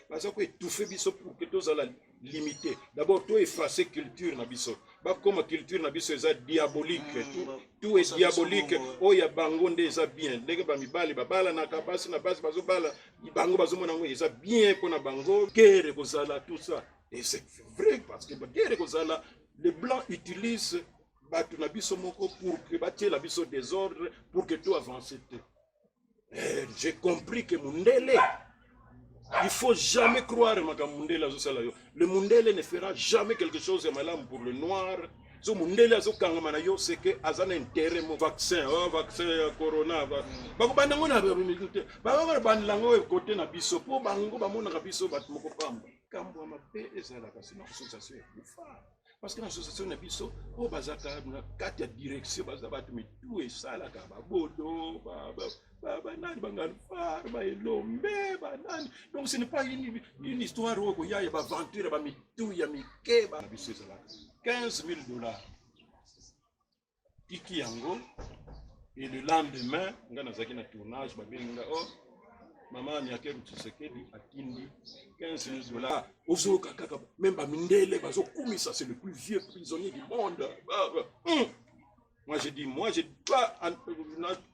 baza ko étouffer biso pour que tozala limité d'abord to effacer culture na biso bakoma culture na biso eza diabolique mm, tout, tout est diabolique oyo ya bango nde eza bien ndenge bamibali babalanaka basi na basi bazobala bango bazomona yango eza bien mpo na bango guerre ekozala tout ça et c'est vrai parce que guerre ekozala le blanc utilise bato na biso moko pour que batiela biso désordre pour que to avance te Eh, j'ai compris que mundele il faut jamais croire makambo mundele azosala yo le mundele ne fera jamais quelque chose ya malamu pour le noir so mundele azokangama na yo seke aza na intérêt mo vaccin oh, vaccin ya corona bakobanda yango na bamilitu te bakoko bandela yango ekote na biso mpo bango bamonaka biso bato moko pamba kambo ya mabe ezalaka sina association ya kufa parce que na association na biso oyo bazalaka na kati ya direction baza bato mitu esalaka babodo banani bangalfar baelombe banani donc ce n'est pas une, une histoire oyo koya ya baventure ya bamitu ya mike na biso ezalaka 15 000 dollars tiki yango et le lendemain nga nazalaki na tournage babengi nga oh mama miakeru tshisekedi atindi 15 000 dollars ozoyoka kaka meme bamindele bazokumisa c'est le plus vieux prisonnier du monde hum. moi je dis moi je pas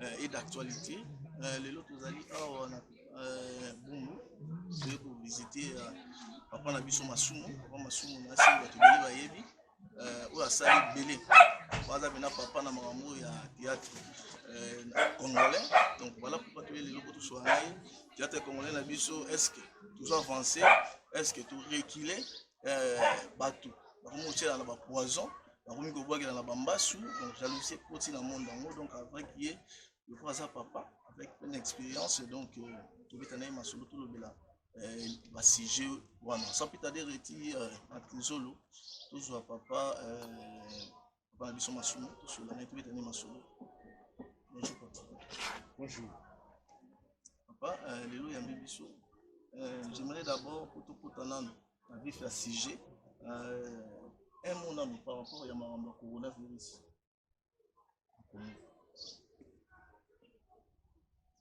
euh, et d'actualité euh, lelo tozali awa na euh, bungu toye kovisite euh, papa na biso masumu papa masumu na nsi bato ebele bayebi euh, oyo asali ebele baza mpena papa na makambo ya théâtre euh, congolais donc voilà pourquoi toye lelo po toswa na ye théâtre congolais na biso est ce que tozo avance est ce que torecule euh, bato bakomi kotyela na bapoison bakomi kobwakela na bambasu donc jalousie ekoti na monde yango donc avec ye lokola aza papa avec pleine expérience donc euh, tobeta na ye masolo tolobela euh, basujet wana sans pita de reti na kinzolo tozwa papa Papa biso masumu tosola na tobeta nde masolo. Bonjour papa. Bonjour. Papa euh, lelo yambi biso. Euh, J'aimerais d'abord pour tout kota nanu na vif ya sujet euh, un mot nanu par rapport ya makambo ya coronavirus.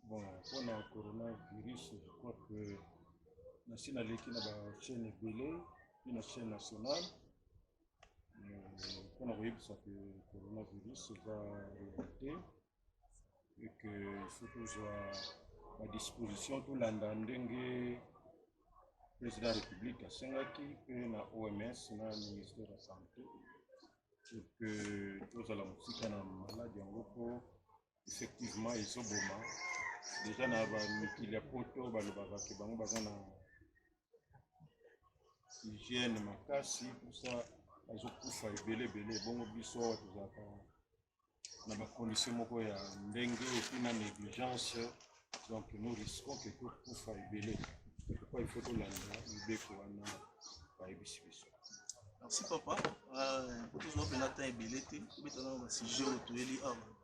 Bon, pour le coronavirus, je crois que nasi naleki na bachaîne ebele mpe na chaîne nationale mpo na koyebisa ke coronavirus eza realite e ke ifaut tozwa badisposition tolanda ndenge président ya république asengaki mpe na oms na ministère ya santé pour que tozala mosika na maladi yango mpo effectivement ezoboma deja na bamikili ya poto balobaka ke bango baza na hygiène makasi posa bazokufa ebele ebele bongo biso awa tozalaka na bacondition moko ya ndenge epuis na négligence donc nous risquons ke tokufa ebele pourquoi il faut tolanda mibeko wana bayebisi biso merci papa euh, tozwa mpena temps ebele te tobetana na basujet oyo toyeli awa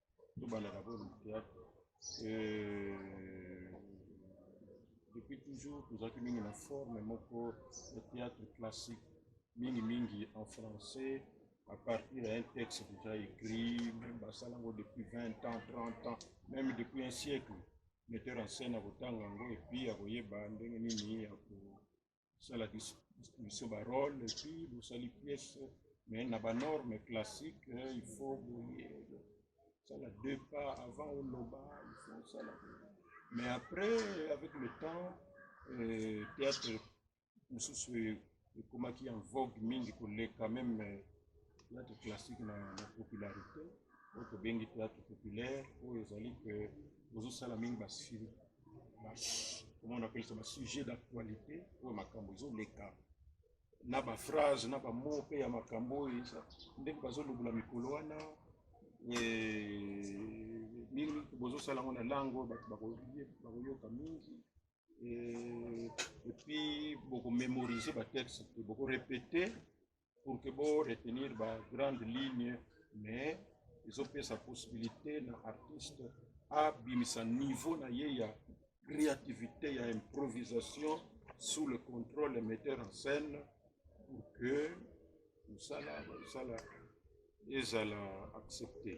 tobandaka mpo na theatre euh, depuis toujours tozalaki mingi na forme moko ya theatre classique mingi mingi en français à partir d'un texte déjà écrit même basala yango depuis 20 ans 30 ans même depuis un siècle metteur en scène akotanga yango epuis akoyeba ndenge nini ya sala distribution ba role epuis bosali pièce mais na ba norme classique eh, il faut boye sala deux pas avant oloba il faut sala mais après avec le temps euh, théâtre mosusu ekomaki en vogue mingi koleka meme Theatre classique na popularite oyo tobengi theatre populaire oyo ezali ke bozosala mingi basili komona apelisa basujet d'actualité oyo makambo ezoleka na baphrase na bamo mpe ya makambo oyo ndenge bazolobola mikolo wana nini bozosala yango na lango bato bakoyoka mingi epuis bokomemorize batexte bokorepete pour que bo retenir ba grande ligne mais ezopesa possibilité na artiste abimisa niveau na ye ya créativité ya improvisation sous le contrôle ya metteur en scène pour que mosala mosala ezala accepté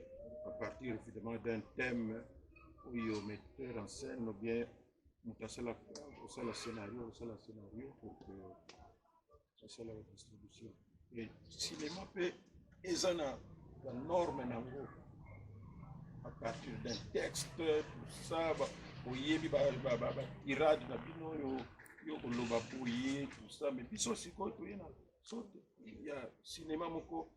à partir évidemment d'un thème oyo metteur en scène ou bien moto asala kosala scénario kosala scénario pour que basala ba distribution cinema mpe eza na ba norme na yango à partir d'un texte tout ça oyebi batirade na bino oyo yo koloba boye tout ça mais biso sikoyo toye na sorte ya cinema moko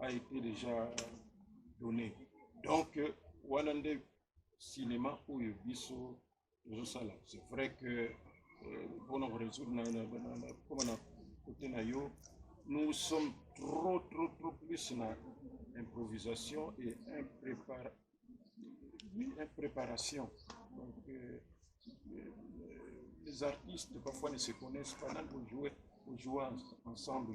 a été déjà donné donc euh, wana nde cinéma oyo biso tozosala c'est vrai que euh, mpona koresoudre nakoma na kote na yo nous sommes trop trop trop plus na improvisation et impréparation une préparation. Donc, euh, euh, les artistes parfois ne se connaissent pas, même pour jouer, pour jouer ensemble.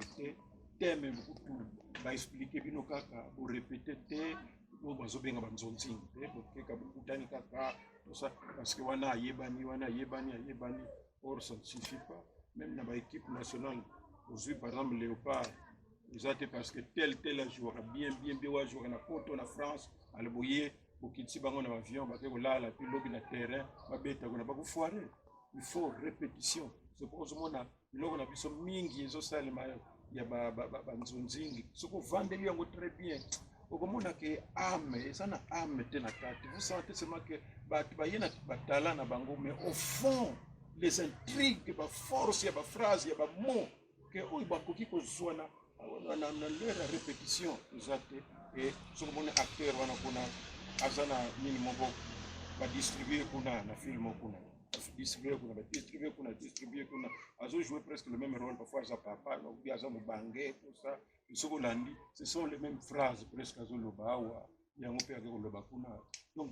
Thème beaucoup tout, va expliquer bino kaka, pour répéter thème, oyo bazobenga banzonzing te bokeka bokutani kaka tosa parce que wana ayebani wana ayebani ayebani or ça ne suffit pas même na baéquipe nationale ozwi par exemple léopard eza te parce que tel tel ajouaka bien bien bien oyo ajouaka na poto na france ale boye bokitisi bango na bavion bake kolala mpe lobi na terrain babeta kuna bakofoire il faut répétition soki ozomona biloko na biso mingi ezosalema ya banzonzingi soki ovandeli yango très bien okomona ke ame eza na ame te na kati vous sentez seulement ke bato baye na batala na bango mais au fond les intrigues baforce ya baphrase ya bamot ke oyo bakoki kozwa na leur ya repetition eza te e soki omoni acteur wana kuna aza na nini moko badistribue kuna na film kuna distribue kuna badistribue kuna distribue kuna azojoue presque le même rôle parfois aza papa obi aza mobange tosa soki olandi ce sont les mêmes phrases presque azoloba awa yango mpe ake koloba kuna donc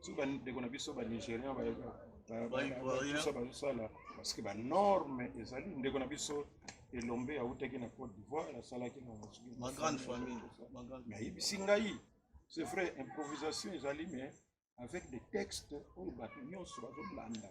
soki bandeko na biso banigérien bayebiso bazosala parceke banorme ezali ndeko na biso elombe autaki na côte d'ivoire asalaki nayebisi ngai c'est vrai improvisation ezali mais avec des textes oyo bato nyonso bazolanda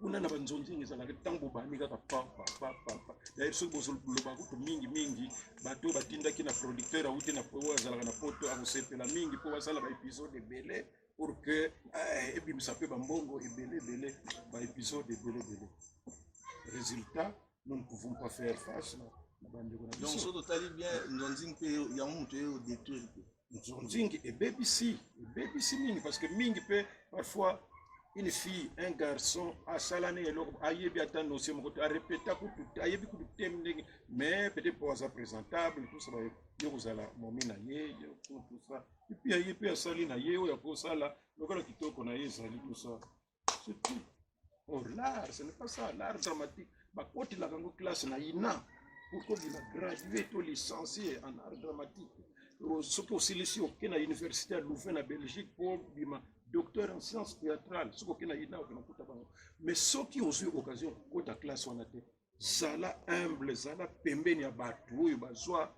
kuna na banzonzingi ezalaka ntango bobandi kaka papa papa daire soki bozoloba kutu mingi mingi bato oyo batindaki na producteur auti oyo azalaka na poto akosepela mingi mpo basala baepisode ebele pour que eh, ebimisa mpe bambongo ebele ebele baepisode ebele ebele résultat nous ne pouvons pas faire face na bandeko na biso donc soki totali bien nzonzingi mpe yango moto ye odetruire te nzonzingi ebebisi ebebisi mingi parce que mingi mpe parfois une fille un garçon asala ne eloko ayebi ata nosie moko te arepeta kutu ayebi kutu te ndenge mais peut-être mpo aza présentable tout ça baye kozala momi na ye tout ça epuis ye mpe asali na ye oyo akosala lokola kitoko na ye ezali tout ça c'est tout or l'art ce n'est pas ça l'art dramatique bakotelaka yango classe na ina pour kobima gradue to licencie en art dramatique soki osilisi oke na université ya louvain na belgique mpo bima docteur en science théâtrale soki oke na ina okena kuta bango mais soki ozwi occasion kota classe wana te zala humble zala pembeni ya bato oyo bazwa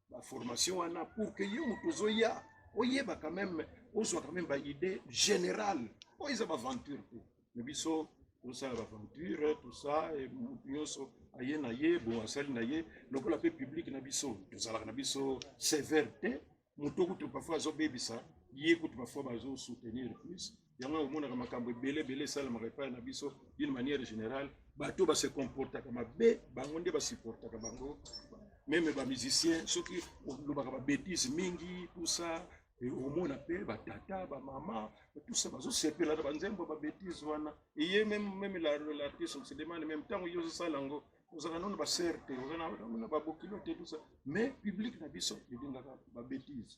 ba formation wana pour que yo moto ozoya oyeba quand même ozwa quand même ba idée générale oyo eza baventure te me biso tosala baventure tout ça moto nyonso aye na ye bon asali na ye lokola mpe publike na biso tozalaka na biso sévère te moto kutu parfois azobebisa ye kutu parfois bazosoutenir plus yango ya komonaka makambo ebele ebele esalemaka epai na biso d'une manière générale bato base comportaka mabe bango nde basupportaka bango meme bamusicien soki olobaka babetise mingi tusa omona mpe batata bamama tusa bazosepela na banzembo babetise wana eye meme meme l'artiste on se demande meme ntango yo ozosala yango ozalaka nano basere te ozana babokilo te tusa mais publique na biso elingaka babetise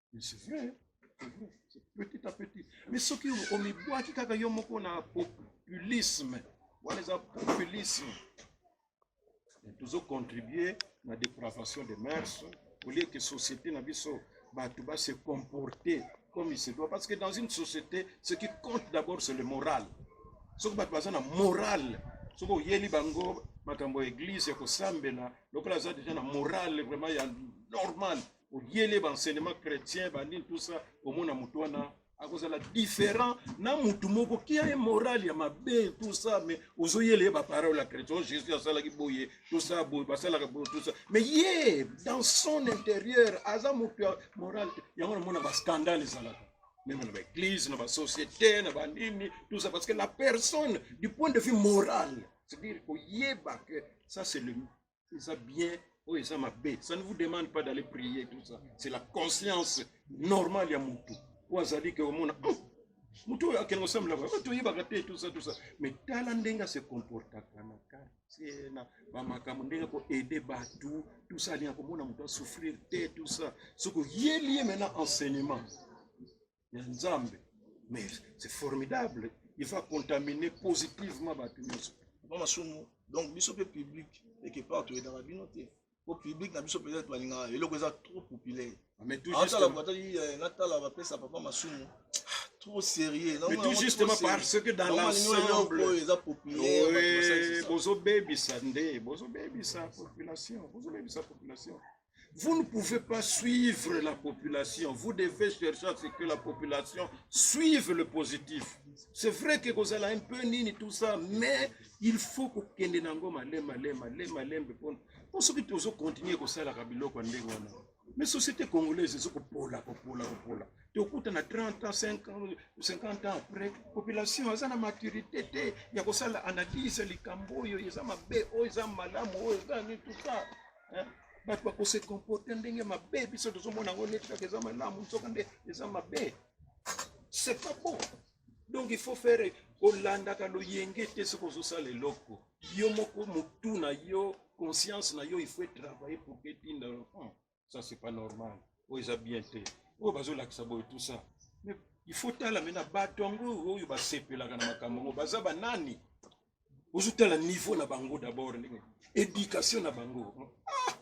Mais c'est vrai, hein. c'est vrai, c'est petit à petit. Mais ce qui au mibois qui kaka yomoko na populisme, on les a populisme. Et toujours contribuer na dépravation des mœurs, au lieu que société na biso bato ba se comporter comme il se doit. Parce que dans une société, ce qui compte d'abord c'est le moral. soki bato baza na morale soki oyeli bango makambo ya eglize ya kosambela lokola aza deja na morale vraiment ya normale oyele ba enseignement chrétien bandini tout ça omona motu wana akozala différent na motu moko kia ye morale ya mabe tout ça mais ozoyele ye baparole ya chrétien oh, jésus asalaki boye tout ça boye basalaka boye tout ça mais ye dans son intérieur aza motu ya morale te yango namona bascandale ezalaka meme na baeglise na basociété na banini tout ça parce que la personne du point de vue moral c'est-à-dire koyeba que ça c'est le eza bien oyo eza mabe ça ne vous demande pas d'aller prier tout ça c'est la conscience normale ya mutu oyo azali ke omona oh, mutu oyo akende kosambelaka oyo oh, toyebaka te tout ça tout ça mais tala ndenge ase comportaka na quartier na bamakambo ndenge ako aide batu tout ça alinga komona mutu asouffrir te tout ça soki oyeli ye maintenant enseignement ya nzambe mais c'est formidable il va contaminer positivement bato nyonso ba masumu donc biso mpe public eke part toyedaka bino te po public na biso peut-être balingaka eloko eza trop populaire atala batali eh, natala bapesa papa masumu trop sérieux mais tout justement parce que dans l'ensemble eza populaire bozobebisa nde bozobebisa population bozobebisa population Vous ne pouvez pas suivre la population. Vous devez chercher à ce que la population suive le positif. C'est vrai que vous avez un peu nini tout ça, mais il faut que kende nango malema lema lema lembe pona. Pour ceux qui toujours continuer comme ça la kabilo kwa ndenge wana. Mais société congolaise c'est ko pola ko pola ko pola. Tu écoutes na 30 ans, 50 ans, 50 ans après, population a na maturité te ya ko sala analyse likambo yo, eza mabe, oyo eza malamu, oyo eza tout ça. bato bakose comporte ndenge mabe biso tozomona yango neti kaka eza malamu nzoka nde eza mabe c'est pas bon donc il faut faire kolandaka loyenge te soki ozosala eloko yo moko motu na yo conscience na yo il faut etravaille pour que etinda hmm, ça c'est pas normal oyo eza bien te oyo bazolakisa boye tout ça mais il faut tala me na bato yango oyo basepelaka na makambo yango baza banani ozotala niveau na bango d'abord ndenge education na bango ah!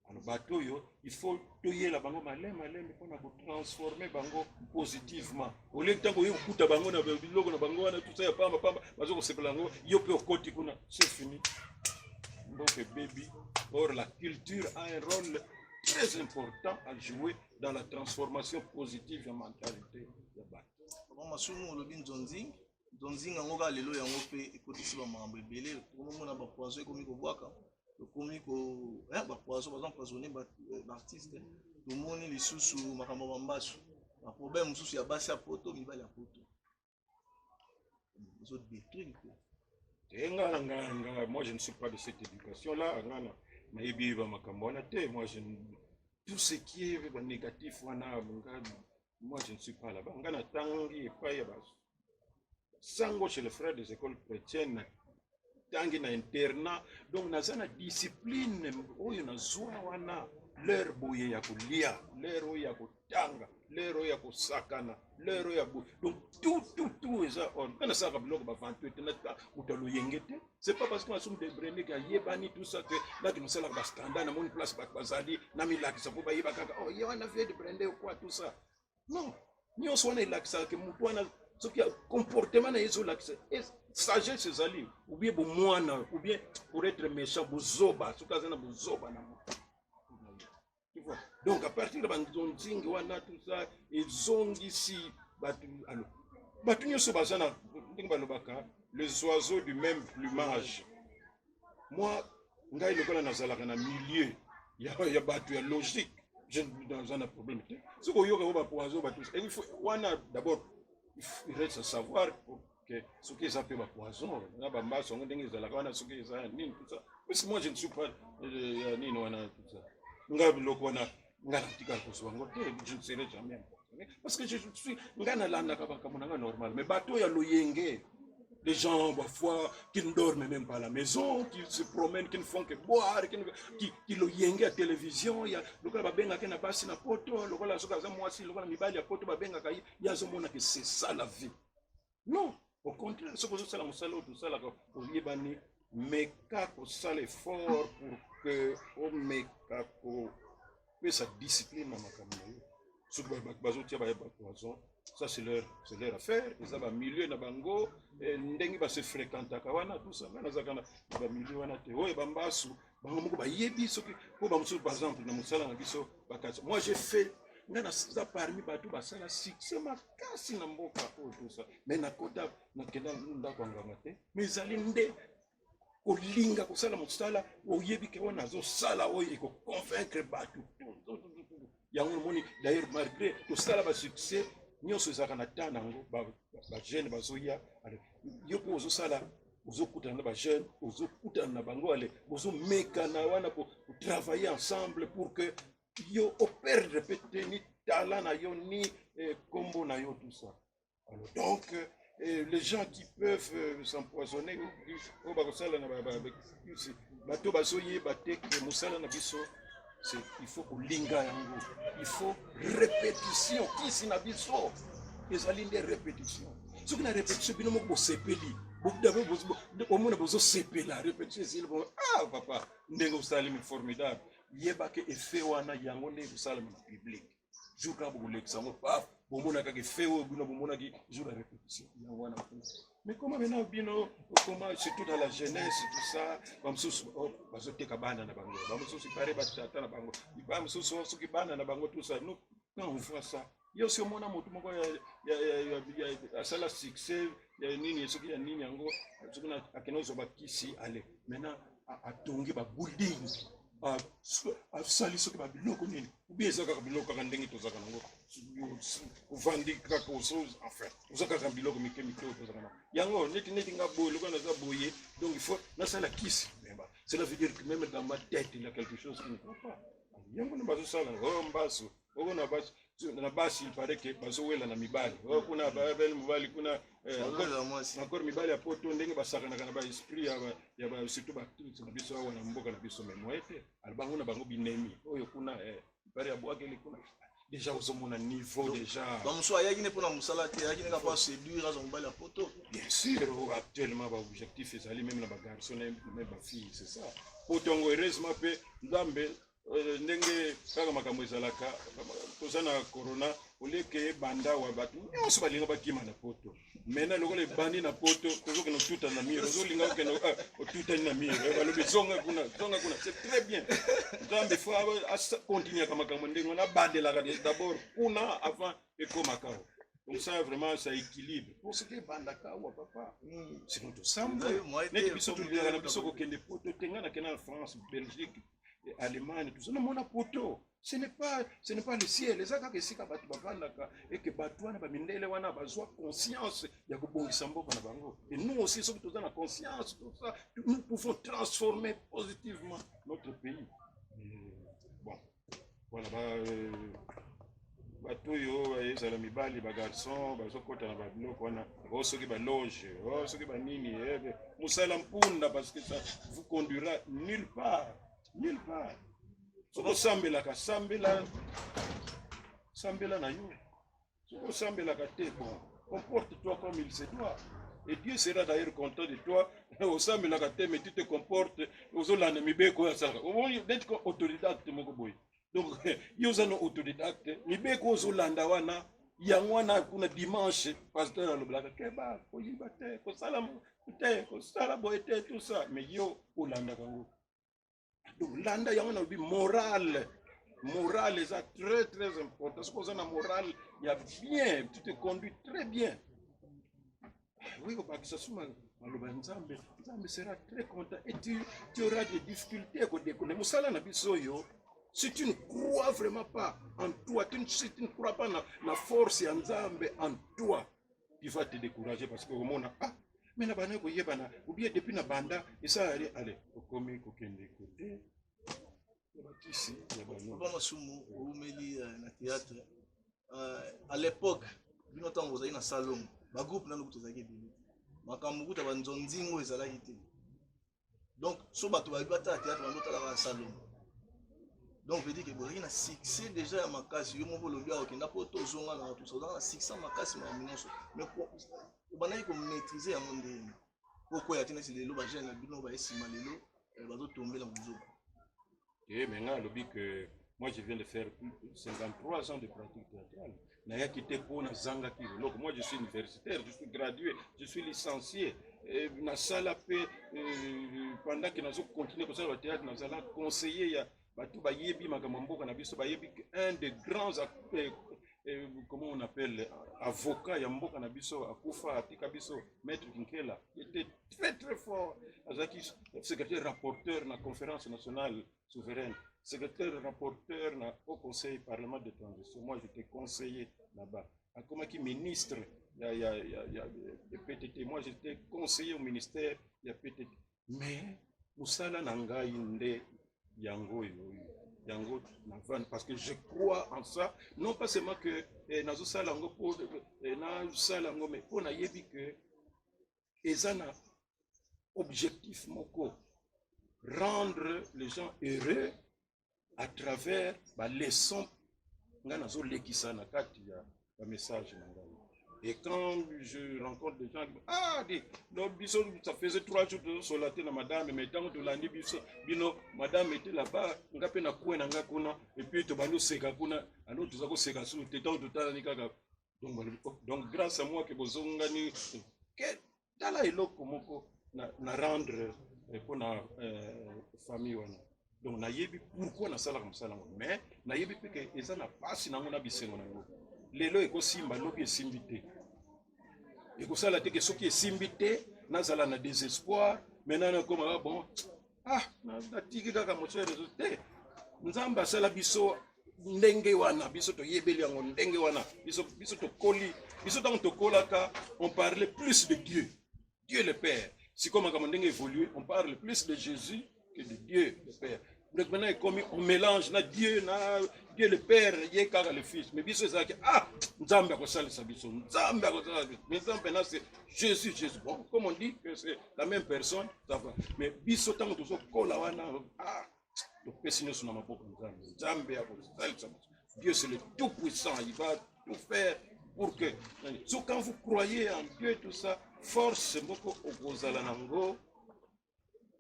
ano bato oyo il faut toyela bango maleme maleme mpo na kotransforme bango positivement olie ntango oye kokuta bango na biloko na bango wana tusa ya pamba pamba baza kosepela yango yo mpe okoti kuna se fini mboka ebebi or la culture a un rôle très important à jouer dans la transformation positive ya mentalité ya bato masumu olobi nzonzi donc nzinga yango kaka lelo yango mpe ekotisi bamakambo ebele okomona bapoison ekomi kobwaka tokomi ko eh, bapoison baza empoisonne baartiste eh, tomoni lisusu makambo ya bambasu baproblème mosusu ya basi ya poto mibali ya poto ezodétruire mpe eh, nga na nga nga moi je ne suis pas de cette éducation là nga na nayebi ba makambo wana te moi je tout ce qui est ba négatif wana nga Moi, je ne suis pas là-bas. Nga na tangi epai ya basu. Sango chez les frères des écoles chrétiennes na tangi na internat. Donc naza na discipline oyo nazwa wana l'heure boye ya kolia, l'heure oyo ya kotanga, l'heure oyo ya kosakana, l'heure oyo ya boye. Donc tout tout tout eza on. Nga nasalaka biloko ba 28 na ta moto ya loyenge te. c'est pas parce que nasumu de brene ke ayebani tout ça ke naki nasalaka bastanda namoni place bato bazali namilakisa mpo bayeba kaka o oh, ye wana vie de brende okwa tout ça non nyonso wana elakisaka ke motu wana soki comportement na ye ezolakisa sagesse ezali oubien bomwana oubien pour être méchant bozoba soki aza na bozoba na motu tu vois donc à partir de banzonzingi wana tout ça ezongisi bato alo bato nyonso baza na ndenge balobaka les oiseaux du même plumage moi ngai lokola nazalaka na milieu ya, ya bato ya logique naza na problème te soki oyoka yango bapoison bato wana d'abord il reste à savoir que soki eza mpe bapoison na bambaso yango ndenge ezalaka wana soki eza ya nini tout ça parce moi je ne suis pas euh, ya nini wana tout ça nga biloko wana nga natikala kozwa yango te je ne serai jamais parce que je suis nga nalandaka makambo na nga normal mais bato ya loyenge Les gens, parfois, qui ne dorment même pas à la maison, qui se promènent, qui ne font que boire, qui, qui, qui le yengue à télévision, il y a le gars babenga qui n'a pas si na poto, le gars la soka za moi si le gars mi bali à poto babenga kai, il y a zo mona que c'est ça la vie. non au contraire soki ozosala mosala oyo tosalaka oyebani meka kosala effort pour que omeka kopesa discipline na makambo na yo soki bato bazotia baye bato bazon ça c'est leur, c'est leur affaire eza bamilieu na bango eh, ndenge base fréquentaka wana tusa ngai nazalaka na bamilieu wana te oyo bambasu bango moko bayebi soki mpo bamosusu par exemple na mosala na biso bakasi moi j'ai fait nga naza parmi bato basala succès makasi na mboka oyo tosa mai nakota nakenda ndako ya nganga te mai ezali nde kolinga kosala mosala oyebi ke wana azosala oyo ekoconvaincre bato yango omoni d'ailleurs malgré tosala ba succès nyonso ezalaka na temps nango bajeune bazoya yo mpo ozosala ozokutana na bajeune ozokutana na bango ale bozomekana wana kotravaille ensemble pour que yo operdre mpe te ni tala na yo ni eh, kombo na yo tout ça Donc, euh, et les gens qui peuvent euh, s'empoisonner oyo bakosala na bato bazoyeba te ke mosala na biso il faut kolinga yango il faut répétition kisi na biso ezali nde répétition soki na répétition bino moko bosepeli omona bozosepela répétition ezili bo ah papa ndenge osalemi formidable yeba ke effet wana yango nde ekosalama na publique jour kaka bokolekisa yango paf bomona kaka efe oyo bino bomonaki jour ya repetition yango wana mais koma mena bino okoma surtout dans la jeunesse tout ça bamosusu oh, bazoteka bana na bango bamosusu pare batata na bango bamosusu oh, soki bana na bango tout ça nous quand on voit ça yo si omona motu moko asala succès ya nini soki ya nini yango soki akende ozwa bakisi ale maintenant atongi babuilding asali soki ba biloko nini obi eza kaka biloko kaka ndenge tozalaka nango ovandi kaka enfin oza kaka biloko mike mike oyo tozalaka nango yango neti neti nga boye lokola naza boye donc il faut nasala kisi cela veut dire que même dans ma tête il y a quelque chose qui ne va pas yango nde bazosala o oh, mbasu oko na basi na basi il paraît que bazowela na mibali oyo kuna babele mobali kuna encore mibali ya poto ndenge basakanaka na baesprit ya surtout bactrice na biso awa na mboka na biso mais moye te albango na bango binemi oyo kuna ipare ya bwakeli kuna déjà ozomona niveau déjà bamosusu ayaki ne mpona mosala te ayaki ne kaka mpo séduire aza mobali ya poto bien sûr oh, actuellement baobjectif ezali meme na bagarçon na meme bafille c'est ça poto yango heureusement mpe nzambe Euh, ndenge kaka makambo ezalaka toza na corona olieke ebanda wa bato nyonso balinga bakima na poto maintenant lokola ebandi na poto tozokende otuta na mire ozolinga okende ah, otutani na mire eh, balobi zonga kuna zonga kuna c'est très bien nzambe fo akontinuaka makambo ndenge wana abandelaka d'abord kuna avant ekomaka Comme ça, vraiment, ça équilibre. Pour ce qui est Bandakawa, papa, hmm. c'est notre semble. Net biso tulingana biso kokende poto tenga na kena France, Belgique, e allemagne toza na mona poto ce n'est pas ce n'est pas le ciel eza kaka esika bato bavandaka eke bato wana bamindele wana bazwa conscience ya kobongisa mboka na bango et nous aussi soki toza na conscience tout ça nous pouvons transformer positivement notre pays hmm. Voilà, ba, euh, bato oyo ezala mibali bagarçon bazokɔta na babiloko wana o oh, soki baloge o oh, soki banini eh, eh, mosala mpunda parce que ça vous conduira nulle part nulle part soki osambelaka sambela sambela na yo soki osambelaka te bon comporte toi comme il se doit et dieu sera d'ailleurs content de toi osambelaka te mais tu te comporte ozolanda mibeko oyo asalaka omoni neti ko autodidacte moko boye donc yo oza na autodidacte mibeko ozolanda wana yango wana kuna dimanche pasteur alobelaka keba koyiba te kosala te kosala boye te tout ça mais yo olandaka yango donc landa yango nalobi morale morale eza très très important soki oza na morale ya bien tu te conduis très bien oui obakisa suma maloba ya nzambe nzambe sera très content et tu, tu auras des difficultés ya kodekone mosala na biso oyo si tu ne crois vraiment pas en toi tu ne, si tu ne crois pas na, na force ya nzambe en toi il faut te décourager parce que omona ah mais na bana koyebana ou bien depuis na banda esala ye ale okomi kokende kote ya bakisi ya banoba masumu oumeli euh, na théâtre euh, à l'époque bino ntango ozali na salongo bagroupe nano kutu ezalaki ebele makambo kuta banzonzingo ezalaki te donc so bato bayebi batala théâtre bango tala ba salongo donc veut dire que bozalaki na succès déjà ya makasi yo moko olobi awa okenda mpo tozonga na watu ozalaka na succès ya makasi makambo nyonso mais obandaki komaîtrise yango ndenge okoya te neti lelo bagene na bino baye nsima lelo eh, bazotombela mozoku Eh, mais nga alobi que moi je viens de faire 53 ans de pratique théâtrale. Naya quitté pour na zanga ki Donc moi je suis universitaire, je suis gradué, je suis licencié. Et na sala pe euh, pendant que nazo continuer comme ça le théâtre, na sala conseiller ya bato bayebi makambo mboka na biso bayebi un des grands euh, euh, comment on appelle avocat ya mboka na biso akufa atika biso maître kinkela était très très fort azalaki secrétaire rapporteur na conférence nationale souveraine secrétaire rapporteur na au conseil parlement de transition moi j'étais conseiller là-bas akomaki ministre ya, ya, ya, ya, ya ptt moi j'étais conseiller au ministère ya ptt mais mosala na ngai nde yango oyo yango na vane parce que je crois en ça non pas seulement que eh, nazosala yango mpo eh, nasala yango mais mpo nayebi que eza na objectif moko rendre les gens heureux à travers ba leçon ngai nazolekisa na kati ya bamessage na ngai et quand je rencontre des gens ah di no biso ça faisait trois jours tozosola te na madame mais ntango tolandi biso bino madame ete laba nga mpe na kue na ngai kuna epuis tobandi oseka kuna alo toza koseka suu te ntango totalani kaka donc balobi oh, donc grâce à moi ke bozongani ke tala eloko moko na, na rendre eh, mpo na euh, famille wana donc nayebi pourquoi nasalaka mosala yango mais nayebi mpe ke eza na mpasi nango na bisengo na yango lelo ekosimba lobi esimbi te ekosala te ke soki esimbi te nazala na désespoir maintenant nakoma ah bon ah natiki kaka moto ya rezo te nzambe asala biso ndenge wana biso toyebeli yango ndenge wana biso, biso tokoli biso ntango tokolaka on parle plus de dieu dieu le père sikoyo makambo ndenge évolue on parle plus de jésus que de dieu le père donc maintenant ekomi on mélange na dieu na dieu le père ye kaka le fils mais biso ezalaki ah nzambe akosalisa biso nzambe akosalisa biso mais nzambe na c'est jésus jésus bon comme on dit que c'est la même personne mais biso ntango tozokola wana ah, topesi nyonso na maboko nzambe nzambe ya kosalisa dieu c'est le tout puissant il va tout faire pour que so quand vous croyez en dieu tout ça force moko okozala na ngo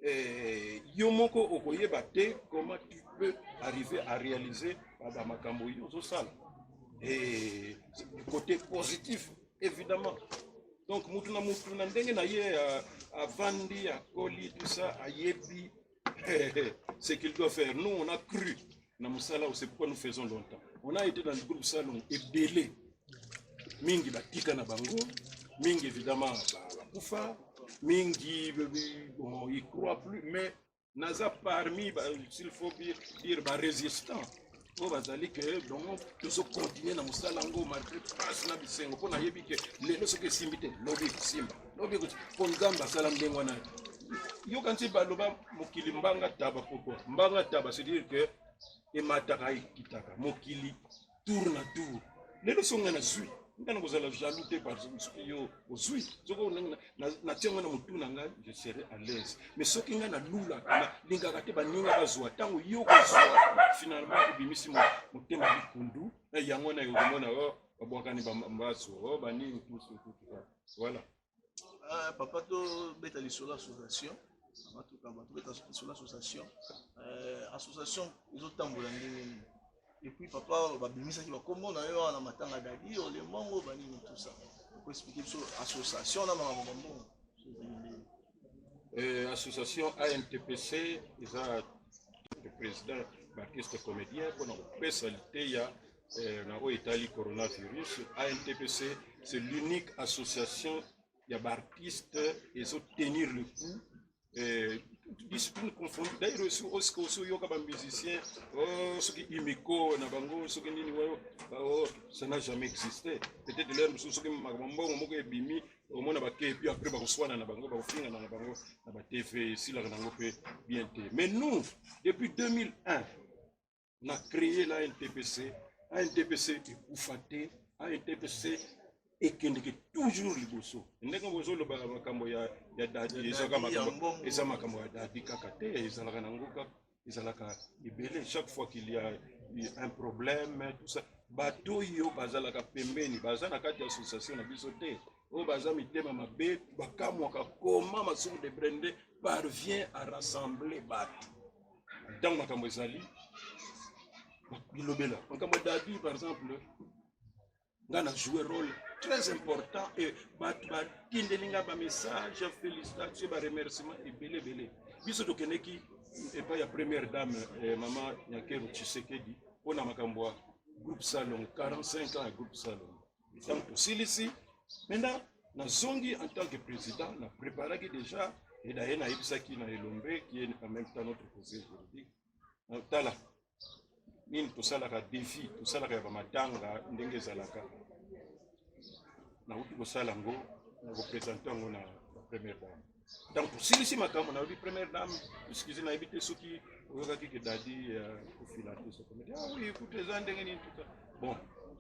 eh, yo moko okoyeba te comment tu peux arriver à réaliser bamakambo yo ozosala eh, côté positif Evidemment. Donc mutu na mutu na ndenge na ye euh, avandi akoli tout ça ayebi ce qu'il doit faire. Nous on a cru na musala c'est pourquoi nous faisons longtemps. On a été dans le groupe salon ebele mingi batika na bango mingi évidemment bakufa mingi bon, il croit plus mais naza parmi s'il faut dire ba résistant oyo bazali ke bango tozokontinue na mosala yango malgré pasi na bisengo mpo nayebi ke lelo soki esimbi te lobi ekosimba lobi ekosimba mpo nzambe asala ndenge wana yoka nti baloba mokili mbanga taba pourkoi mbanga taba c'est dire ke emataka ekitaka mokili tour na tour lelo so nga nazwi nga na kozala jaloux te parce que soki yo ozwi soki natia nga na motu na ngai je serai à l'aise mais soki nga nalulaka nalingaka te baninga bazwa ntango yo kozwa finalement obimisi motema likundu eh, yango wana ekomona o oh, babwakani bazwa o oh, banini voilà Ah, papa tobeta lisolo association batukaba tobeta lisolo association euh, association ezotambola ndenge nini epuis papa babimisaki bakombo na yo wana matanga dadi olemongo banini tusa okoexplike biso association na makambo bambongo euh, association antpc eza président baartiste comédien mpona kopesa liteya eh, na oyo etali coronavirus antpc c'est l'unique association ya baartiste ezotenir le coup eh, discipline confondue d'ailleurs osi osika osi oyoka bamusicien oh, soki imiko na bango soki nini wayo oh, ça n'a jamais existé peut-être lere mosusu soki makambo mbongo moko ebimi omona bake epuis après bakoswana na bango bakofingana na bango na batv esilaka nango mpe bien te mais nous depuis 2001 na créer na NTPC a NTPC ekufa te a NTPC ekendeke toujours liboso ndenge bozoloba na makambo ya ya dadi ezaka makambo eza makambo ya dadi kaka te ezalaka na ngoka ezalaka ebele chaque fois qu'il y a un problème tout ça bato oyo bazalaka pembeni baza na kati ya association na biso te oyo baza mitema mabe bakamwaka koma masumu de brende parvient à rassembler bato ntango makambo ezali bilobela makambo ya dadi par exemple nga na joue rôle très important e bato batindeli nga bamessage félicitation baremerciement ebele ebele biso tokendeki epai ya première dame eh, mama nyakeru tshisekedi mpo na makambo ya groupe salon 45 ans ya groupe salon ntango tosilisi mena nazongi en tant que président na préparaki déjà et daye nayebisaki na elombe qui est en même temps notre conseil juridique tala nini tosalaka défi tosalaka ya bamatanga ndenge ezalaka nauti kosala yango na kopresente yango na première dame ntango tosilisi makambo nayobi première dame excuse nayebi te soki oyokaki ke dadi ya euh, kofila te sokomedi ah oui écoute eza ndenge nini tuta bon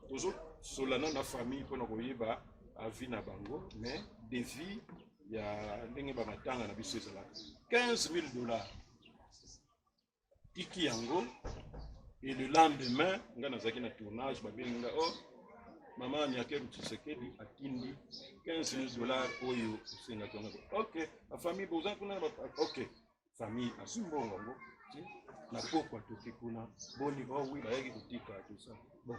tozosolana na famille mpona koyeba avi na bango mais devis ya ndenge bamatanga na biso ezalaka 15 000 dollars tiki yango et le lendemain nga nazalaki na tournage babengi nga oh mama nyakeru tshisekedi atindi 15 000 dollars oyo osengaki yango ok bafamille boza kuna ok famille azwi mbongo yango na pokwa toki kuna boni bawi oh bayaki kotika tosa bon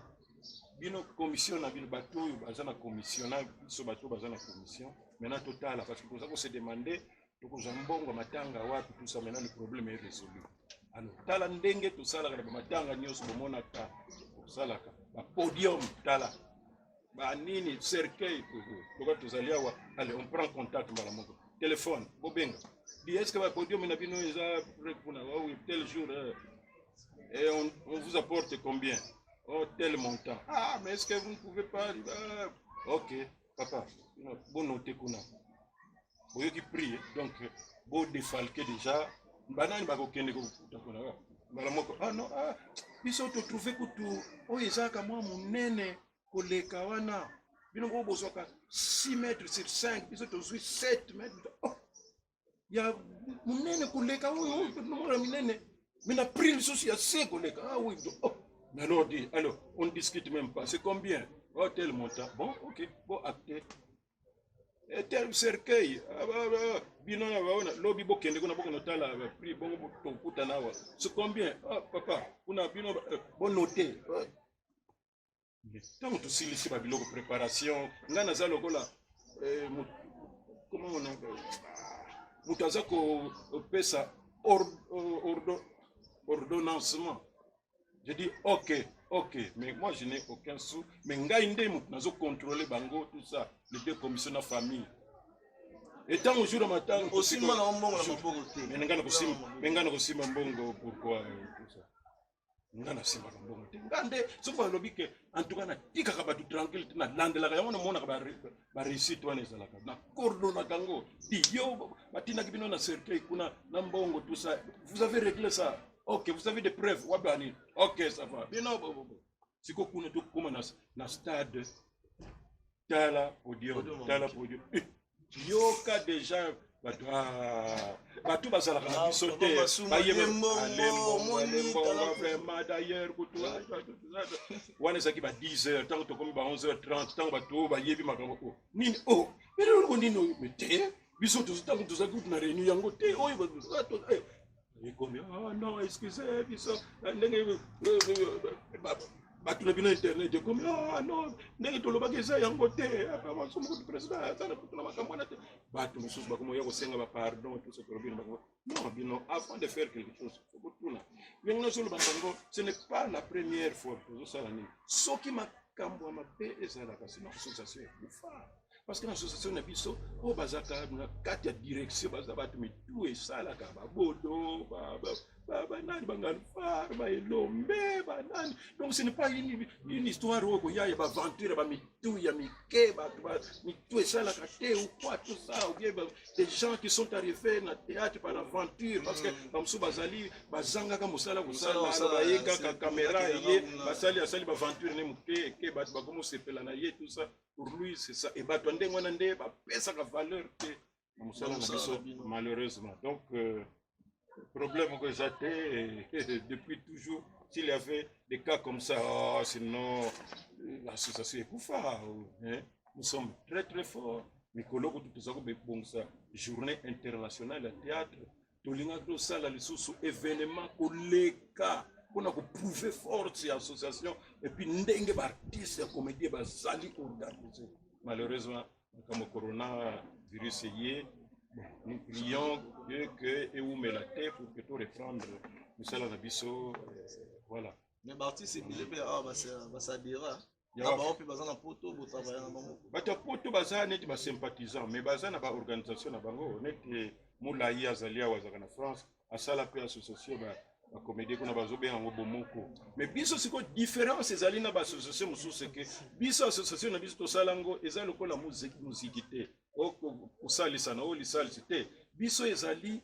bino commission na bino bato oyo baza na commission na biso bato baza na commission maintenant totala parce que toza kose demande tokozwa mbongo ya matanga wapi tout ça maintenant le problème est résolu alors tala ndenge tosalaka na bamatanga nyonso bomonaka tosalaka bapodium tala banini cercueil toka tozali awa allez on prend contact mbala moko téléphone bobenga bi est ce que bapodium na bino eza prêt kuna wawi tel jour euh, et on, on vous apporte combien oh tel montant ah mais est ce que vous ne pouvez pas ah, ok papa bonote kuna boyoki prix donc bo defalke déjà banani bakokende kokuta kuna mbala moko ah non ah biso totrouve kutu oyo ezalaka mwa monene koleka wana bino moko bozwaka 6 mètre sur 5 biso tozwi 7 mètre oh, ya monene koleka oyo oyo tonomona minene mais na prix lisusu ya se koleka ah oui oh. mais alors dit alors on discute même pas c'est combien oh tel montant bon ok bon acte etel cercueil ah, ah, ah, bino na baona lobi bokende kuna bokende otala prix bongo tokutana awa ce combien ah, papa kuna bino eh, bonote ntango tosilisi babiloko préparation ngai naza lokola eh, comment on appelle moto aza kopesa ordonnancement je dis ok ok mais moi je n'ai aucun sou mais ngai nde moto nazo contrôler bango tout ça les deux commission na famille etango jour ya matanga osimba na mbongo na maboko te mais ngai nakosimba mais ngai nakosimba mbongo pourquoi euh, tout ça nga nasimbaka mbongo te nga nde soki balobi ke antuka natikaka bato tranquille te nalandelaka yango namonaka bareusite wana ezalaka na coordonaka yango iyo batindaki bino na cercueil kuna na mbongo tout ça vous avez réglé ça Ok, vous avez des preuves. Wabani. Ok, ça va. Bien, non, bon, bon, bon. Siko kuna tu kuma na, na stade. Tala podium, tala podium. Eh, Yoka déjà bato ah, bato bazalaka na biso te vraiment d'ailleurs kutu wana ezalaki ba 10 heures ntango tokomi ba 11 heures 30 ntango bato oyo bayebi makambo oyo nini oyo eloko nini oyo te biso ntango tozalaki kutu na réunion yango te oyo ekomi oh non excuse biso eh, ndenge eh, eh, bato na bino internet ekomi oh non ndenge tolobaki eza yango te maso moko président aza na kutu na makambo wana te bato mosusu bakomoya kosenga bapardon toso tolobi na bango non bino avant de faire quelque chose okotuna yango nyonso olobaka yango ce n'est pas la première fois tozosala nini soki makambo ya mabe ezalaka sino association ekufa parce que na association na biso oyo bazalaka na kati ya direction baza bato mitu esalaka babodo banani bangalfar baelombe banani donc ce n'est pas une, une histoire oyo koya ya baventure ya bamitu ya mike bato mitu esalaka te ou quoi tout ça ou bien des gens qui sont arrivés na théâtre par aventure parce que mm. bamosusu bazali bazangaka mosala kosalana baye kaka kamera eye basali asali baventure ne moke eke bato bakoma osepela na ye tout ça Lui, c'est ça. Et bah, toi, ndenge wana nde ba pesa ka valeur te. Na musala na Musala biso na bino. malheureusement. Donc euh, problème ko eza te et depuis toujours s'il y avait des cas comme ça oh, sinon euh, l'association ekufa hein. Nous sommes très très forts. Mikolo kutu toza ko bebongisa journée internationale ya théâtre tolingaki tosala lisusu evenema koleka mpona koprouve force ya association epuis ndenge baartiste ya comédie bazali koorganize malheureusement makambo corona virus eye nous prions dieu ke ewumela te pour que to reprendre misala na biso euh, voilà mais baartiste ebele mpe awa basadira bato ya poto baza neti basympathisant mais baza na baorganisation na bango neti molai azali awa azalaka na france asala mpe association bakomedie kuna bazobenga yango bomoko mais biso sikoyo différence ezali na baassociation mosusu eke biso association na biso tosala yango eza lokola moziki te kosalisa na oyo lisalisi te biso ezali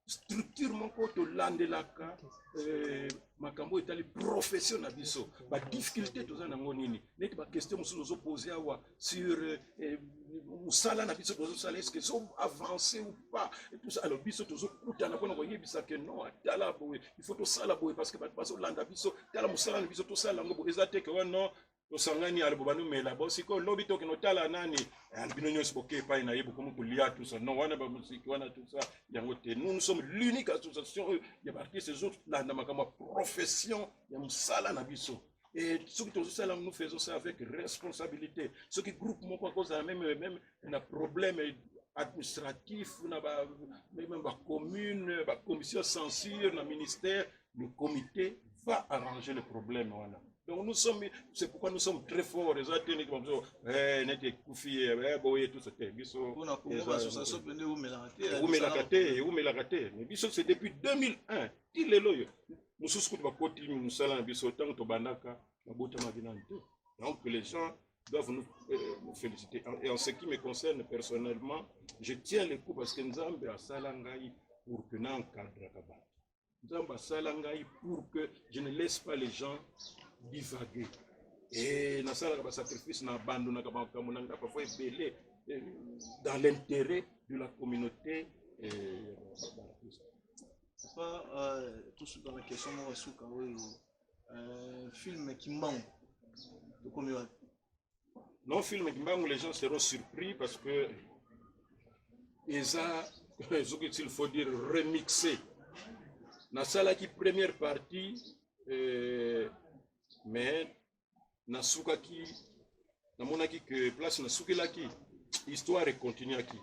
structure moko tolandelaka eh, makambo etali profession na biso badifficulté toza nango nini neti baquestion mosusu ozopose awa sur eh, mosala na biso tozosala eske so avance ou pas tous alors biso tozokutana mpona koyebisa ke non atala boye il faut tosala boye parce que bato bazolanda biso tala mosala na biso tosala yango boye eza te ke wa non tosangani alobo banumela bo sikoyo lobi tokende otala nani eh, bino nyonso boke epai na ye bokomi kolia tusa non wana bamosiki wana tusa yango te nous nous sommes l'unique association oyo ya baartiste ezolanda makambo ya profession ya mosala na biso et soki tozosala nous faisons ça avec responsabilité soki groupe moko akozala meme meme na problème administratif na ba, meme bacommune bacommission censure na ministère le comité va arranger le problème wana donc nous sommes c'est pourquoi nous sommes très forts eza te neti babiso eh, neti ekufi eh, boye tout te biso eumelaka te eumelaka te mais biso c'est depuis 2001 ti lelo oyo mosusu kutu bakoti mosala na biso ntango tobandaka nabotamaki nani te donc les gens doivent nous, euh, nous féliciter et en ce qui me concerne personnellement je tiens le coup parce que nzambe asala ngai pour que na encadraka bato nzambe asala ngai pour que je ne laisse pas les gens divaguer e nasalaka basacrifice na abandonaka makambo na ngai parfois ebele eh, dans l'intérêt de la communauté eh, papa euh, tosuka na question moko suka oyo euh, film kimbangu tokomi wapi Non film Kimbangu les gens seront surpris parce que eza ce qu'il faut dire remixé. Na sala ki première partie euh, mais na suka ki na mona ki que place na suki la ki histoire est continue ki.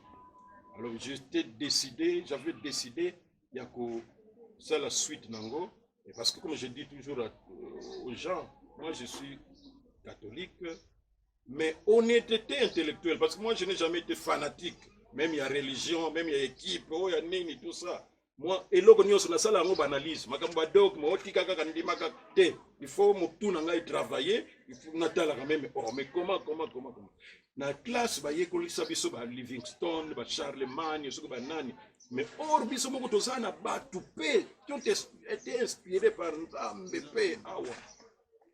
Alors j'étais décidé, j'avais décidé ya kosala suite na yango parce que comme je dis toujours à, euh, aux gens moi je suis catholique mais honnêteté intellectuelle parce que moi je n'ai jamais été fanatique même ya religion même ya équipe oyo oh, ya nini tout ça moi eloko nyonso nasala yango baanalyse makambo badogme otika kaka ndima kaka te il faut motu na ngai travailler natalaka meme or oh, mais comment comment comment comment na classe bayekolisa biso ba livingstone ba charlemagne soki banani mais or biso moko toza na bato mpe tout été inspiré par nzambe mpe awa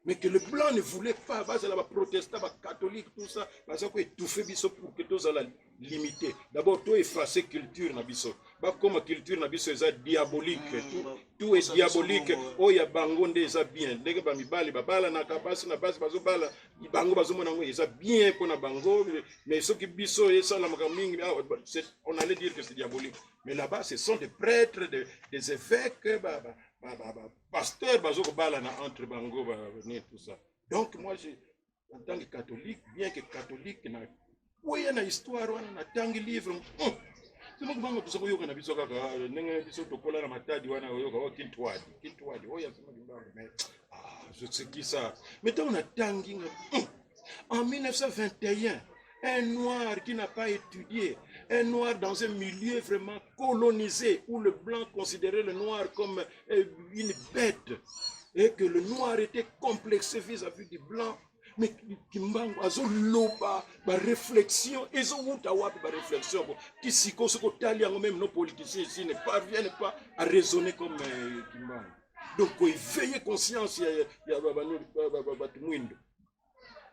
mais que le blanc ne voulait pas bazala baprotestant bacatholique tout ça baza koetouffe biso pour que tozala limité d'abord to efface culture na biso bakoma culture na biso eza diabolique mm, tout est diabolique oyo ya bango nde eza bien ndenge bamibali babalanaka basi na basi bazobala bango bazomona yango eza bien mpo na bango mais soki biso esalamaka mingi ah, on allait dire que c'est diabolique mais là-bas ce sont des prêtres des, des évêques ba, ba, ba, ba, ba, pasteur bazo kobalana entre bango ba, tout ça donc moi je, en tant que catholique bien que catholique na boya na histoire wana natangi livre hmm. somo kubanga biso koyoka na biso kaka ah, ndenge biso tokola na matadi wana koyoka o oh, kintwadi kintwadi oyo oh, asoma kimbangu me ah, zosekisa me ntango natangi nga hmm. en 1921 un noir qui n'a pas étudié, un noir dans un milieu vraiment colonisé où le blanc considérait le noir comme euh, une bête et que le noir était complexé vis-à-vis -vis du blanc, mais kimbangu azoloba baréflexion ezowuta wapi baréflexion yango ti sikoyo soki otali yango meme no politicien esi ne parvienne pas à raisonner comme euh, kimbangu donc koeveille conscience ya bato mwindo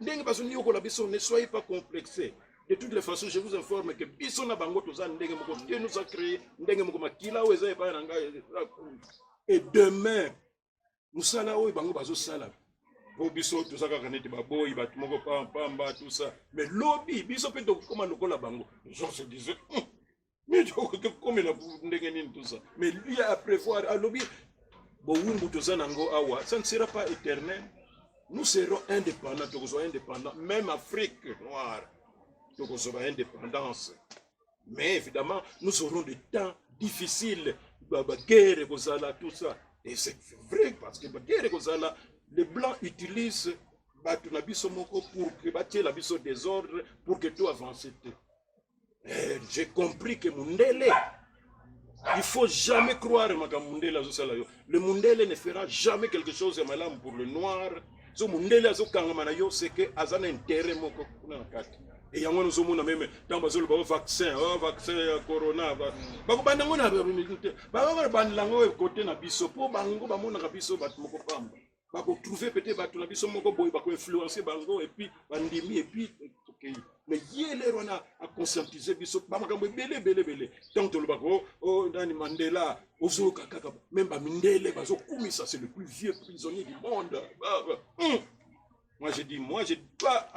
ndenge bazoniyokola biso ne soyez pas complexé de toutes les façons je vous informe que biso na bango toza ndenge moko te nous a créé ndenge moko makila oyo eza epai na ngai et demain mosala oyo bango bazosala po biso toza kaka neti baboyi bato moko pampamba tusa me lobi biso mpe tokokoma lokola bango jean se disait hum, midi okokomela ndenge nini tusa me lui a prévoir alobi bowumbu toza na yango awa ça ne sera pas éternel nous serons indépendants tokozwa indépendant même afrique noire tokozwa ba indépendance mais évidemment nous aurons des temps difficiles baguerre ekozala tout ça et c'est vrai parce que baguerre ekozala les blancs utilisent bato na biso moko pour que batiela biso désordre pour que to avance te eh, j'ai compris que mundele il faut jamais croire makambo mundele azosala yo le mundele ne fera jamais quelque chose ya malamu pour le noir so mundele azokangama na yo seke aza na intere moko kuna na kati e yango wana ozomona meme ntango bazoloba o oh, vaccin o oh, vaccin ya corona bakobanda yango na te bakobandela yango ekote na biso mpo bango bamonaka biso bato moko pamba bakotrouve pete bato na biso moko boye bakoinfluence bango epuis bandimi epuis tokei mais ye lere wana aconscientise biso bamakambo ebele ebele ebele ntango tolobaka o oh, oh, nani mandela ozoyoka kaka meme bamindele bazokumisa c'est le plus vieux prisonnier du monde ah, ah. Hmm. moi je dis moi je dois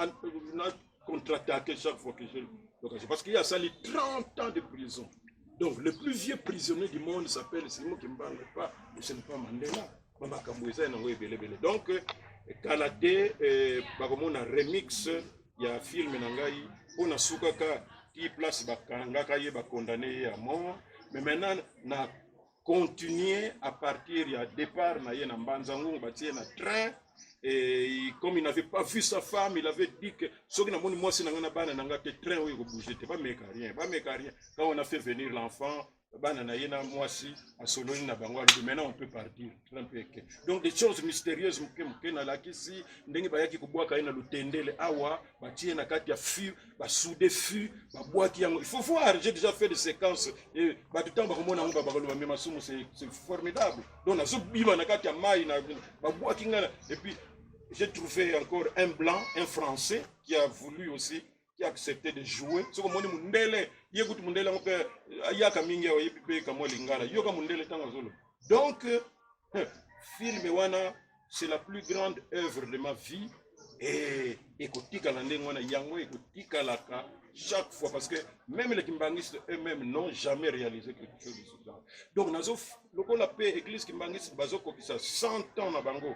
contre-attaquer chaque fois que je l'occasion parce qu'il a sali 30 ans de prison donc le plus vieux prisonnier du monde s'appelle simo kimbangu pas ce n'est pas mandela bamakambo eza yango ebele ebele donc kala te eh, bakomona remix ya film na ngai mpo nasukaka ti place bakangaka ye bakondane ye ya mort mais maintenant na continuer à partir ya départ na ye na mbanza ngungu batie na train Et comme il n'avait pas vu sa femme, il avait dit que ce que moi c'est nanga bana nanga te train oui bouger te pas mec rien, pas mec rien. Quand on a fait venir l'enfant, bana na ye na mwasi asololi na bango alobi maintenant on peut partir trump eke donc des choses mystérieuses moke moke nalakisi ndenge bayaki kobwaka ye na lotendele awa batie na kati ya fur basude fur babwaki yango il faut voir j'ai déjà fait des séquences e bato ntango bakomona yango babakoloba me masumu c'est formidable donc nazobima na kati ya mai na babwaki ngai et puis j'ai trouvé encore un blanc un français qui a voulu aussi qui acceptait de jouer soki omoni mundele ye kutu mundele yango mpe ayaka mingi awa yebi mpe kamwa lingala yoka mundele ntango azoloba donc eh, film wana c'est la plus grande œuvre de ma vie et ekotikala ndenge wana yango ekotikalaka chaque fois parce que même les kimbanguistes eux-mêmes n'ont jamais réalisé quelque chose de ce genre donc nazo lokola mpe église kimbanguiste bazokokisa 100 ans na bango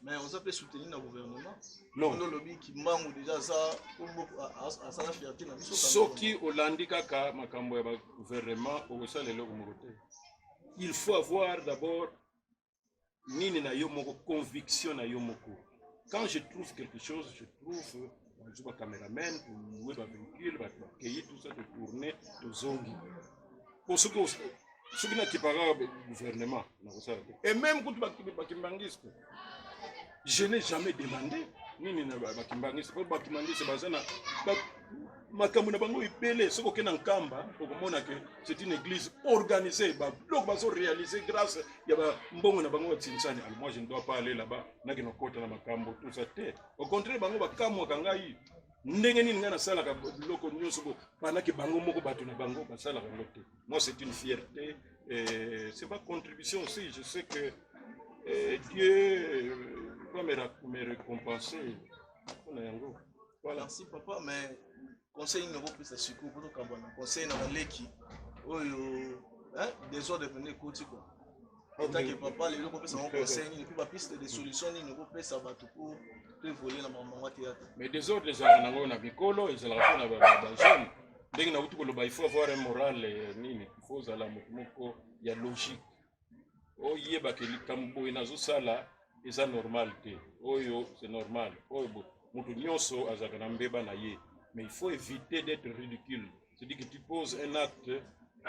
mais oza mpe soutenu na gouvernement londo olobi kimbangu deja aza asala fierte na biso soki olandi kaka makambo ya bagouvernement okosala eloko moko te il faut avoir d'abord nini na yo moko conviction na yo moko quand je trouve quelque chose je trouve bazwi ba cameraman tolue ba véhicule bato bakei tout ça totourne tozongi po soki soki nakipaka gouvernement nakosala te et même kutu bakimbangiste je n'ai jamais demandé nini na bakimbangiste po bakimbangiste baza na makambo na bango ebele soki okenda nkamba okomona ke c'est une église organisée babiloko bazo réaliser grâce ya bambongo na bango ya tinsani alors moi je ne dois pas aller là-bas nakende kokota na makambo tout ça te Au contraire, bango bakamwaka ngai ndenge nini ngai nasalaka biloko nyonso bo panake bango moko bato na bango basalaka yango te moi c'est une fierté euh, c'est ma contribution aussi je sais que euh, dieu euh, va me, me récompenser mpona yango voilà. merci papa mais conseil nini okopesa sikoyo mpo tokamba na conseil na baleki oyo desordre pende ekoti kua otanke papa lelo kopesa bango conseil nini mpe bapiste de solution nini okopesa bato mpo to evolue na bamama théâtre mais desordre ezalaka nango oyo na bikolo ezalaka mpo na bajeune ndenge nakuti koloba il faut avoir un moral eh, nini il faut ozala moto moko ya logique oyeba ke likambo boye nazosala eza normal te oyo c'est normal oyo moto nyonso azalaka na mbeba na ye mais il faut éviter d'être ridicule c'est-à-dire que tu poses un acte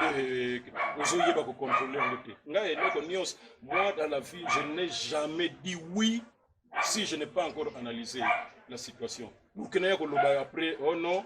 euh, ozoyeba kocontrole yango te ngai eloko nyonso moi dans la vie je n'ai jamais dit oui si je n'ai pas encore analysé la situation bokena ya koloba après oh non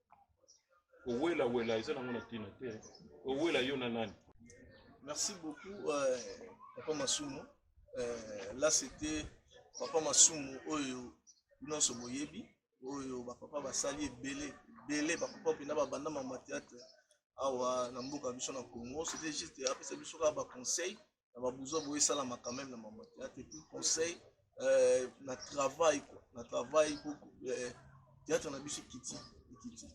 owela wela eza nango na tina te owela yo na nani merci beaucoup euh, papa masumu euh, là c'était papa masumu oyo nyonso boyebi oyo bapapa basali ebele ebele bapapa mpena babanda mama theatre awa na mboka biso na congo c'était juste apesa biso kaka baconseil na babuzwa boye esalama quand même na mama théâtre et puis conseil euh, na travail quoi na travail beaucoup euh, théâtre na biso ekiti ekiti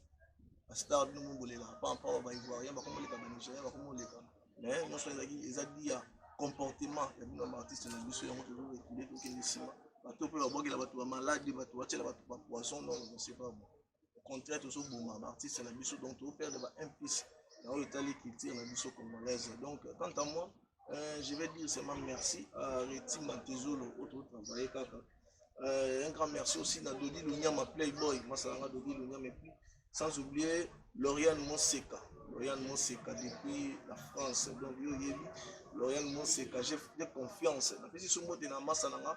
bastar bino mobolela pampa ba baivoirien bakomoleka banigérien bakomoleka mais nyonso ezalaki eza dia comportement ya bino baartiste na biso yango tozorekile tokende nsima bato mpe babwakela bato bamaladi bato batyela bato bapoison non je sais pas bon au contraire tozoboma baartiste na biso donc toperdre ba un plus na oyo etali culture na biso congolaise donc quant à moi euh, je vais dire seulement merci à reti matezolo oyo totravaille kaka euh, un grand merci aussi na dodi lonyama playboy masalanga dodi lonyama epuis sans oublier loriane moseka loriane moseka depuis la france donc yo oyebi loriane moseka j'ai confiance napesi so mbote na masa na nga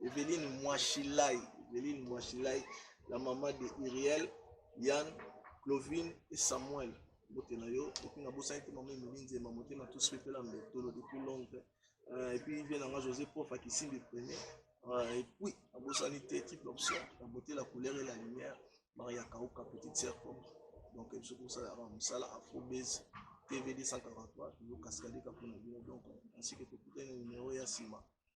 Eveline Mwashilai, Eveline Mwashilai, la maman de Uriel, Yann, Clovine et Samuel. Bote na yo, et puis na bosani te maman Emeline Zema, mote na tous fait la mbetolo depuis longtemps. Euh, et puis vient nanga José Prof à Kissimbi premier. Euh, et puis, na bosani te type option, la beauté, la couleur et la lumière. Maria Kauka, petite sœur propre. Donc, je trouve ça, Moussala, Afro Base, TV 243, toujours cascadé, Kapouna, donc, ainsi que tout le numéro Yassima.